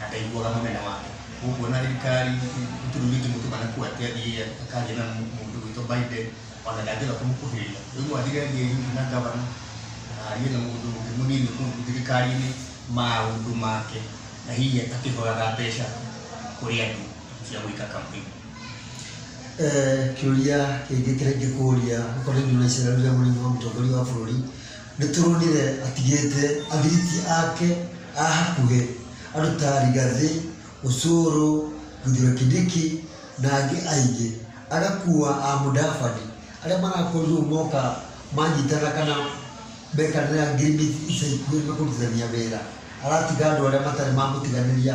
na ndaiguaga mũmena wake ũkuona thirikari tũrugiti mũtumana kuo atĩ athiĩ akaria na mũndũ witũ Biden ona ndangĩenda kũmũkuhĩrĩria rĩu no athire athiĩ hihi na gavana arie na mũndũ ũngĩ mũnini kũu thirikari-inĩ maũndũ make na hihi akĩhoyaga mbeca kũrĩ andũ cia gwĩka campaign Eh, kĩũria kĩngĩ kĩrĩa ingĩkũria ũkorwo nĩ ndũrecera rĩrĩa mũrĩmi wa mũtongoria wa bũrũri Nĩtũronire atigĩte athiriti ake a hakuhĩ andũ ta Rigathi, Osoro, Kithure Kindiki na angĩ aingĩ. Agakua a Mudavadi arĩa marakorirwo moka manyitana kana mekanĩra ngirimiti ica ikuhĩ nĩmekũrutithania wĩra. Aratiga andũ arĩa matarĩ mamũtiganĩria.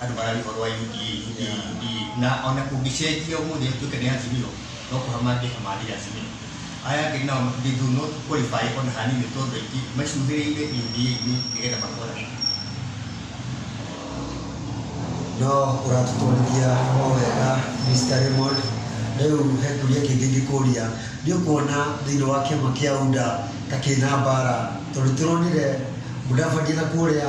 andũ marari ũhoro wa UDA, UDA, UDA. Na ona kũngĩcenjia ũmũthĩ atuĩke nĩ Azimio, no kũha mangĩhamarire Azimio. Aya angĩ nao they do not qualify ona hanini tondũ aingĩ macuthĩrĩire UDA-inĩ nĩgetha makona kĩndũ. No ũratũtwarithia o wega Mr. Raymond. Rĩu he kĩũria kĩngĩ ingĩkũria, nĩ ũkuona thĩinĩ wa kĩama kĩa UDA ta kĩna mbara? Tondũ nĩ tũronire Mudavadi na kũrĩa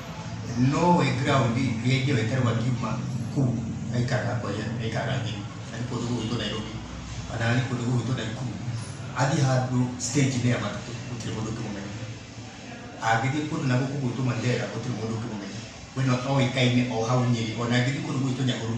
no wĩ ground rĩrĩa ithe weterwo akiuma kũu aikaraga kwa ithe aikaraga Nyeri kana kũndũ gũkũ gwitũ Nairobi kana nĩ kũndũ gũkũ gwitũ Naikuru athiĩ handũ stage inĩ ya matatũ gũtirĩ mũndũ ũngĩmũmenya angĩthiĩ kũndũ na gũkũ gwitũ Mandera gũtirĩ mũndũ ũngĩmũmenya we no oĩkaine o hau Nyeri ona angĩthiĩ kũndũ gũkũ gwitũ Nyahururu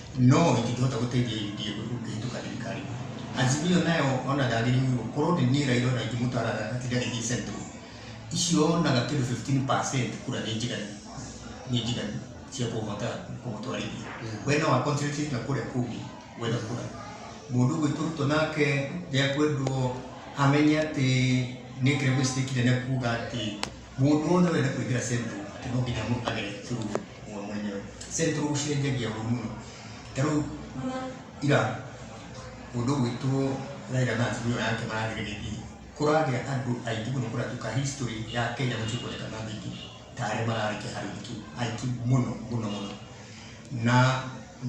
no itingĩhota gũteithia UDA kũhĩtũka thirikari. Azimio nayo ona ndagĩrĩirwo gũkorwo nĩ niĩ Raila ona ingĩmũtaraga atinde agĩthiĩ central. Icio onaga kĩndũ 15% kura nĩ njiganu, nĩ njiganu cia kũhota kũmũtwarithia. We no a concentrate na kũrĩa kũngĩ gwetha kura. Mũndũ ũgwĩtwo Ruto nake ndekwendwo amenye atĩ nĩ ekire mistake nene kuga atĩ mũndũ wothe ũrenda kũingĩra central atĩ no nginya mũ- agere through we mwenyewe central gũcenjagia ũru mũno ta rĩu ira mũndũ ũgwĩtwo Raila na atumia yake marageria gĩthiĩ kũragĩa andũ aingĩ mũno kũratuka history ya Kenya gũtirĩ kuoneka na andũ aingĩ ta arĩa mararĩkia harĩ ũhiki aingĩ mũno mũno mũno na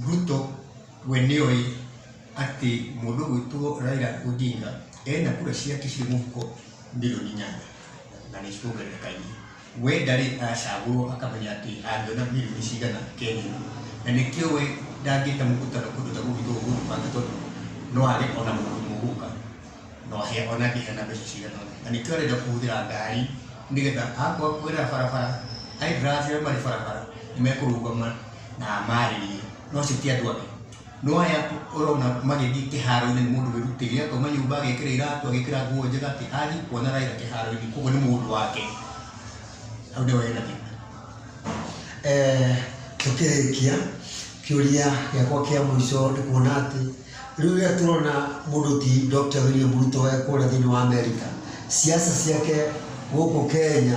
Ruto we nĩoĩ atĩ mũndũ ũgwĩtwo Raila Odinga ena kura ciake cirĩ mũhuko milioni inyanya na nĩ cikuongerereka inĩ we ndarĩ acagũrwo akamenya atĩ angĩona milioni cigana Kenya na nĩkĩo we ndangĩta mũkutano kũndũ ta gũkũ tondũ no age ona mũndũ ũmwe ũgũka no ahe ona angĩheana mbeca cigana ona na nĩkĩo arenda kũhũthĩra ngari nĩgetha akwa kwĩra barabara aithĩra arĩa marĩ barabara nĩ mekũrũgama na marĩrie no acio ti andũ ake. No aya ũrona magĩthiĩ kĩharo-inĩ nĩ mũndũ wĩrutĩire, akauma nyũmba agekĩra iratũ, agekĩra nguo njega, atĩ athiĩ kuona Raila kĩharo-inĩ, koguo nĩ mũndũ wake. Hau nĩho hena thĩna. Eh, tũkĩrĩkia kĩũria gĩakwa kĩa mũico nĩ kuona atĩ rĩu rĩrĩa tũrona mũndũ ti Dr. William Ruto e kũrĩa thĩinĩ wa Amerika, siasa ciake gũkũ Kenya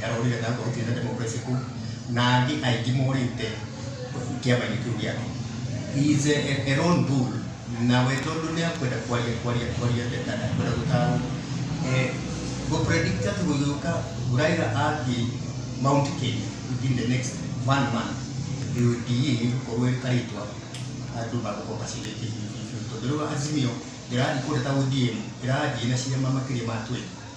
Karori Gatahu kwa Hutu na Democracy kuu na angĩ aingĩ morĩte kĩama-inĩ kĩu gĩake. He is a, a, a lone bull na we tondũ nĩ akwenda kwaria kwaria kwaria ndeta na kwenda gũtarwo eh, gũpredicta tu gũgĩũka Raila athiĩ Mount Kenya within the next one month UDA nĩ gũkorwo ĩkarĩtwa andũ magũkorwo macindĩte tondũ rĩu Azimio ndĩrathiĩ kũndũ ta ODM ĩrathiĩ na ciama makĩria ma 20